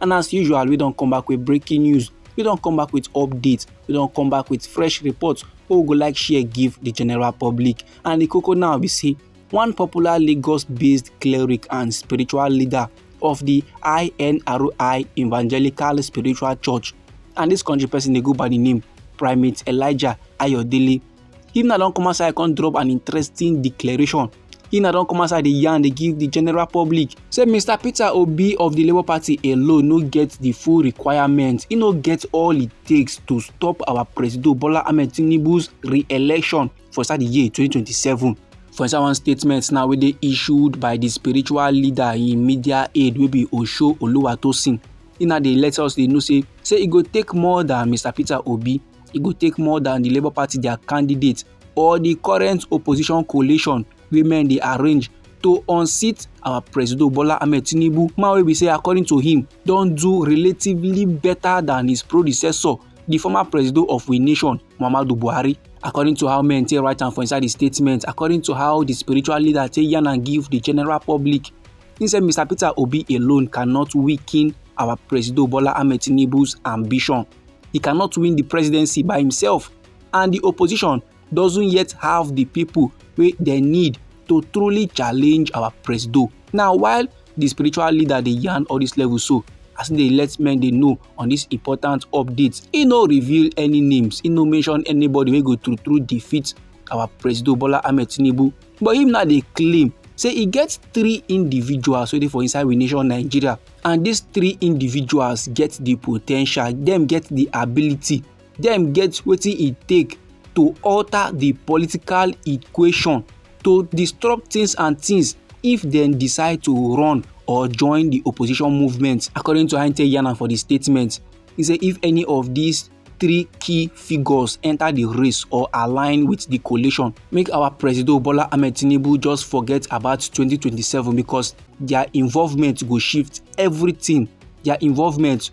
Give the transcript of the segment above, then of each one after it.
and as usual we don come back with breaking news we don come back with updates we don come back with fresh reports wey we go like share give the general public and the koko now be say one popular lagos-based cleric and spiritual leader of the inri evangelical spiritual church and this country person dey go by the name primate elijah ayodele him now don come outside come drop an interesting declaration He na don come outside dey yarn dey give the general public say Mr. Peter Obi of the Labour Party alone no get the full requirements. He no get all it takes to stop our President Bola Ahmed Tinubu's re-election for inside the year 2027. For inside one statement now wey dey issued by the spiritual leader in media aid wey be Osho Oluwatosin, he na dey let us dey know say say e go take more than Mr. Peter Obi, e go take more than the Labour Party their candidate or di current opposition coalition wey men dey arrange to unseat our presido bola ahmed tinubu man wey be say according to him don do relatively better than his predecessor di former presido of we nation muhammadu buhari according to how men take write am for inside di statement according to how di spiritual leader take yarn am give di general public he say mr peter obi alone cannot weaken our presido bola ahmed tinubu's ambition he cannot win di presidency by himself and di opposition doesn't yet have di pipo wey dem need to truly challenge our presido now while di spiritual leader dey yarn all dis level so as e dey let men dey know on dis important update e no reveal any names e no mention anybody wey go true true defeat our presido bola ahmed tinubu but him now dey claim say e get three individuals wey dey for inside we nation nigeria and dis three individuals get di po ten tial dem get di ability dem get wetin e take to alter di political equation to disrupt tins and tins if dem decide to run or join di opposition movement according to heintel yana for di statement e say if any of dis three key figures enter the race or align with the coalition. Make our President Bola Ahmed Tinubu just forget about 2027 because their involvement will shift everything. Their involvement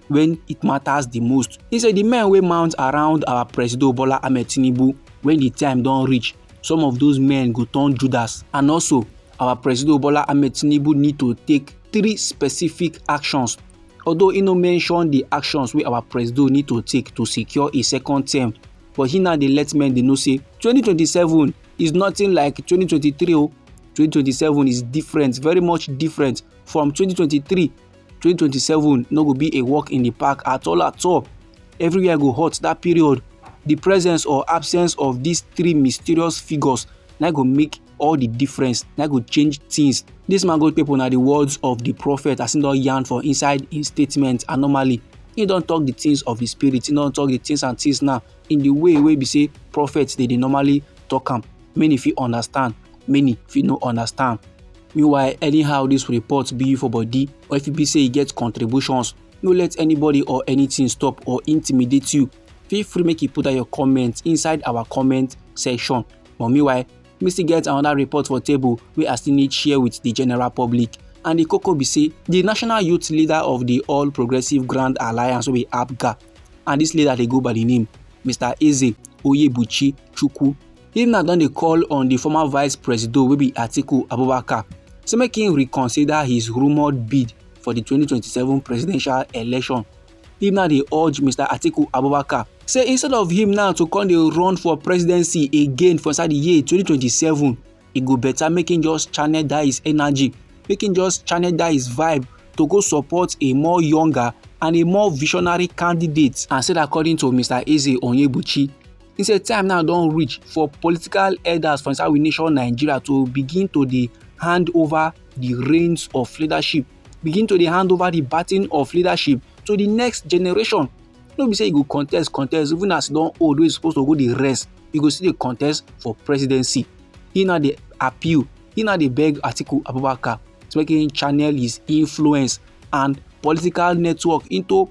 when it matters the most. He said the men will mount around our President Bola Ahmed Tinubu when the time don't reach. Some of those men go turn Judas and also our President Bola Ahmed Tinubu need to take three specific actions although he no mention the actions wey our presido need to take to secure a second term but he now dey let men dey know say 2027 is nothing like 2023 o 2027 is different very much different from 2023 2027 no go be a walk in the park at all at all everywhere go hot that period the presence or absence of these three mysterious figures na go make all the difference na go change things this man go people na the words of the prophet as he don yarn for inside him statement and normally he don talk the things of the spirit he don talk the things and things now in the way wey be say prophets dey dey normally talk am many fit understand many fit no understand meanwhile anyhow dis report be you for body or if e be say you get contributions no let anybody or anything stop or intimidate you feel free make you put out your comment inside our comment section but meanwhile me still get another report for table wey i still need share with the general public and the koko be say the national youth leader of the all progressive grand alliance wey be apga and this leader dey go by the name mr eze oyebuchi chukwu Him now don dey call on the former vice president wey be Atiku Abubakar say make him reconsider his rumoured bid for the 2027 presidential election. Him now dey urge Mr. Atiku Abubakar say instead of him now to come dey run for presidency again for inside the year 2027, e go better make him just channel that his energy, make him just channel that his vibe to go support a more younger and a more visionary candidate. And said according to Mr. Eze Onyebuchi, He say time now don reach for political elders for inside we nation Nigeria to begin to dey hand over the reins of leadership, begin to dey hand over the baton of leadership to the next generation. No be say you go contest, contest, even as you don old wey you suppose to go dey rest, you go still dey contest for presidency. He now dey appeal, he now dey beg Atiku Abubakar to make him channel his influence and political network into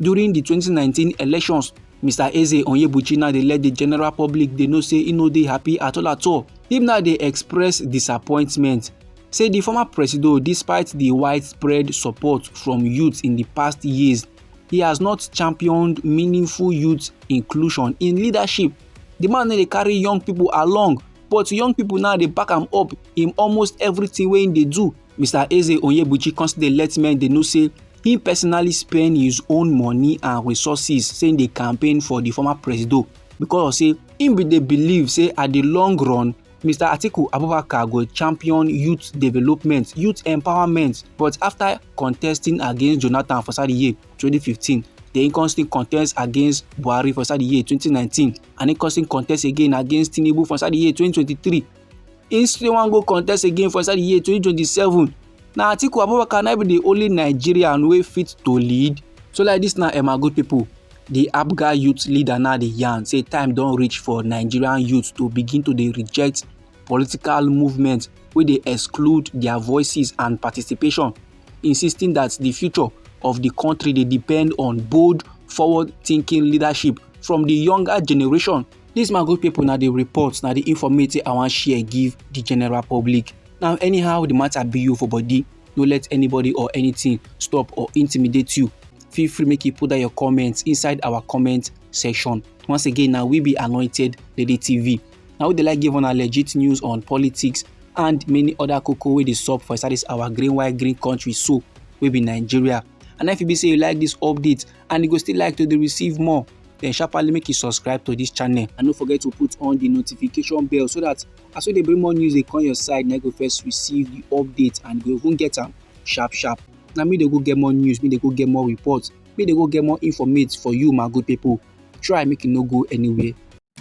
during di 2019 elections mr eze onyebuchi now dey let di general public dey know say e no dey happy at all at all im now dey express disappointment say di former presido despite di widespread support from youths in di past years he has not championed meaningful youth inclusion in leadership di man no dey carry young pipo along but young pipo now dey back am up in almost everything wey im dey do Mr. Eze Onyebuchi come still dey let men dey know say he personally spend his own money and resources saying the campaign for the former presido because say him bin dey believe say at the long run mr atiku abubakar go champion youth development youth empowerment but after contesting against jonathan for inside the year 2015 then he come still contest against buhari for inside the year 2019 and he come still contest again against tinubu for inside the year 2023 im still wan go contest again for inside the year 2027 na atiku abubakar na be the only nigerian wey fit to lead so like this na emma good people the abga youth leader now dey yarn say time don reach for nigerian youth to begin to dey reject political movement wey dey exclude their voices and participation insisting that the future of the country dey depend on bold forward-thinking leadership from the younger generation This my good people na the report na the informate I wan share give the general public. Now anyhow the matter be you for body, no let anybody or anything stop or intimidate you. Feel free make you put down your comments inside our comment section. Once again na we be Anointed Lady TV. Na we dey like give una legit news on politics and many other koko wey dey sup for inside this our green white green country so wey be Nigeria. And if you be say you like this update and you go still like to dey receive more, then sharply make you subscribe to this channel and no forget to put on the notification bell so that as we dey bring more news dey come your side na go first receive the update and go even get am sharp sharp na me dey go get more news me dey go get more reports me dey go get more informate for you my good people try make you no go anywhere